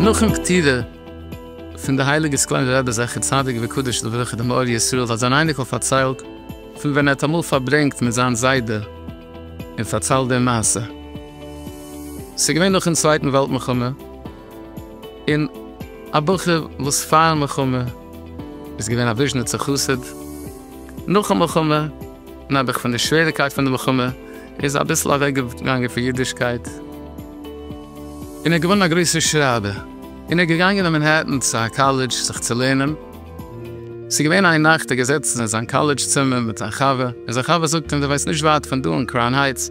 נאכן פטירה פון די הייליגע סקלענער רבי זכר צדיק וקדוש לברכה דעם אור ישראל האט זיין אייניקל פארציילט פון ווען ער האט אמאל פארברענגט מיט זיין זיידע און פארציילט די מעשה ס'איז געווען נאכן צווייטן וועלט מלחמה. און א בחור וואס פאר מלחמה איז געווען א וויזשניצער חסיד, נאכן מלחמה נעבעך פון די שוועריקייט פון די מלחמה איז אביסל אוועק געגאנגען פון אידישקייט, און ער איז געווארן א גרויסער שרייבער, און ער איז געגאנגען אין מאנהעטן צו א קאלעדזש זיך צו לערנען, ס'איז געווען איין נאכט ער איז געזעצן אין זיין קאלעדזש צימער מיט זיין חבר, און זיין חבר זאגט אים דו וואוינסט נישט ווייט פון דא אין קראון הייטס,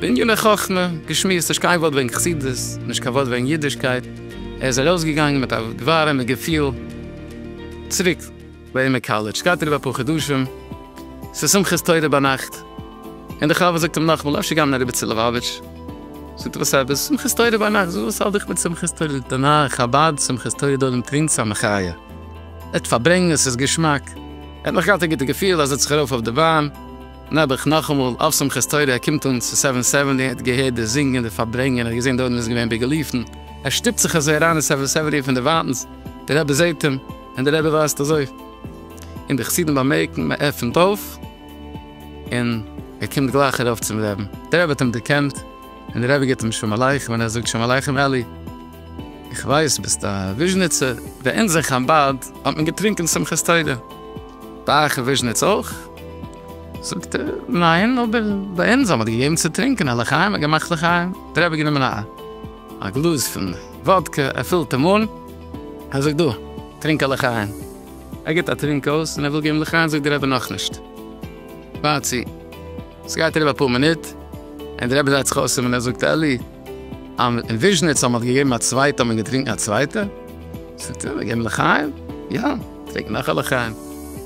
בינגעלע חכמה גשמיות, נישט קיין ווארט וועגן חסידות, נישט קיין ווארט וועגן אידישקייט, ער איז ארויסגעגאנגען מיט א ווארעמע געפיל צוריק לעמער קאלעדזש, גייט אריבער אפאר חדשים, ס'איז שמחת תורה ביינאכט, און דער חבר זאגט אים נאכאמאל, אפשר גיי מען אריבער צו לעבאוויטש, זאגט ער וואס עפעס, שמחת תורה ביינאכט, וואס האלט דיך מיט שמחת תורה, זאגט ער ניין, חבד, שמחת תורה דא ארום טרינקט ס'איז א מחיה, ער האט פארברענגט, עס איז געשמאק, ער האט נאך געהאט א גוטע געפיל, ער זעצט זיך ארויף אויף די באן. נעבעך נאכאמאל אויף שמחת תורה, ער קומט אן צו סעווען סעווענטי, ער האט געהערט די זינגען, די פארברענגען, ער האט געזען די אויבן איז געווען ביגעלופטן, ער שטופט זיך אזוי אריין אין סעווען סעווענטי פון דערווייטנס, די רבי זעט אים, און די רבי ווייזט אזוי, און די חסידים באמערקן, מען עפנט אויף, און ער קומט גלייך ארויף צום רעבן, די רבי האט אים דערקענט, און די רבי גיט אים שלום עליכם, און ער זאגט שלום עליכם אלי, איך ווייס ביסט א וויזשניצער, ביי אונז אין חבד האט מען געטרינקען שמחת תורה. ביי אייך אין וויזשניץ אויך? זאגט ער, ניין, אבער ביי אונז האט מען געגעבן צו טרינקען א לחיים, א געמאכט לחיים, דער רבי האט גענומען א גלאז פון וואדקע, ער פילט אים אן, ער זאגט, דא, טרינק א לחיים, ער גיבט א טרינק אויס, און ער וויל געבן לחיים, זאגט דער רבי, נאכנישט, ווארט צו, ס'גייט אריבער אפאר מינוט, און דער רבי דרייט זיך אויס אים און ער זאגט, אלי, און וויזשניץ האט מען געגעבן א צווייטע האט מען געטרינקן א צווייטע. זאגט ער, מ'געבן לחיים? יא, טרינק נאך א לחיים.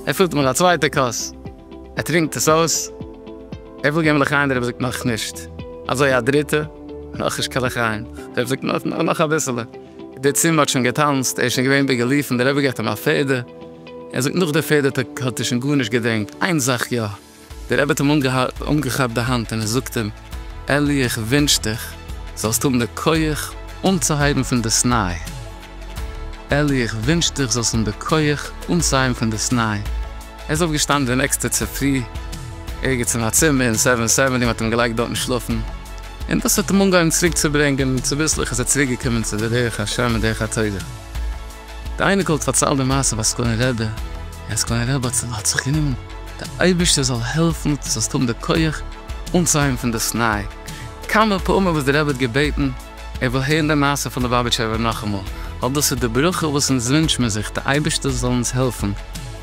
ער פילט מיט א צווייטע כוס, ער טרינקט עס אויס, ער וויל געבן לחיים, דער רבי זאגט נאך נישט. אזוי א דריטע, נאך נישט קיין לחיים. דער רבי זאגט נאך, נאך, נאך אביסעלע. די צימער האט שוין געטאנצט, ער איז שוין געווען בעגעליפן, דער רבי געבט אים א פעדער, ער זאגט נאך די פעדער האט ער שוין גארנישט געדענקט, איין זאך יא, דער רבי האט אים אנגעכאפט די האנט און ער זאגט אים, אלי איך ווינטש דיך זאלסט האבן די כח אנצוהייבן פון דאס ניי, אלי איך ווינטש דיך זאלסט האבן די כח אנצוהייבן פון דאס ניי, ער איז אויף געשטאנען די נעקסטע צופרי ערגעץ אין א צימער אין סעווען סעוועני מ'האט אים געלייגט דארטן שלאפן, און דאס האט אים אנגעהויבן צוריק צוברענגען צוביסלעך איז ער צוריק געקומען צו די דרך השם און דרך התורה. די אייניקל האט פארציילט די מעשה ביי סקולען רבי, און סקולען רבי האט האט זיך גענומען, די אייבערשטער זאל העלפן דו זאלסט האבן די כח אנצוהייבן פון דאס ניי, כמה פעמים וואס די רבי האט געבעטן ער וויל הערן די מעשה פון לובאביטשער רבי נאכאמאל, ווייל דאס איז די ברכה וואס אונז ווינטש מיר זיך, די אייבערשטער זאל אונז העלפן.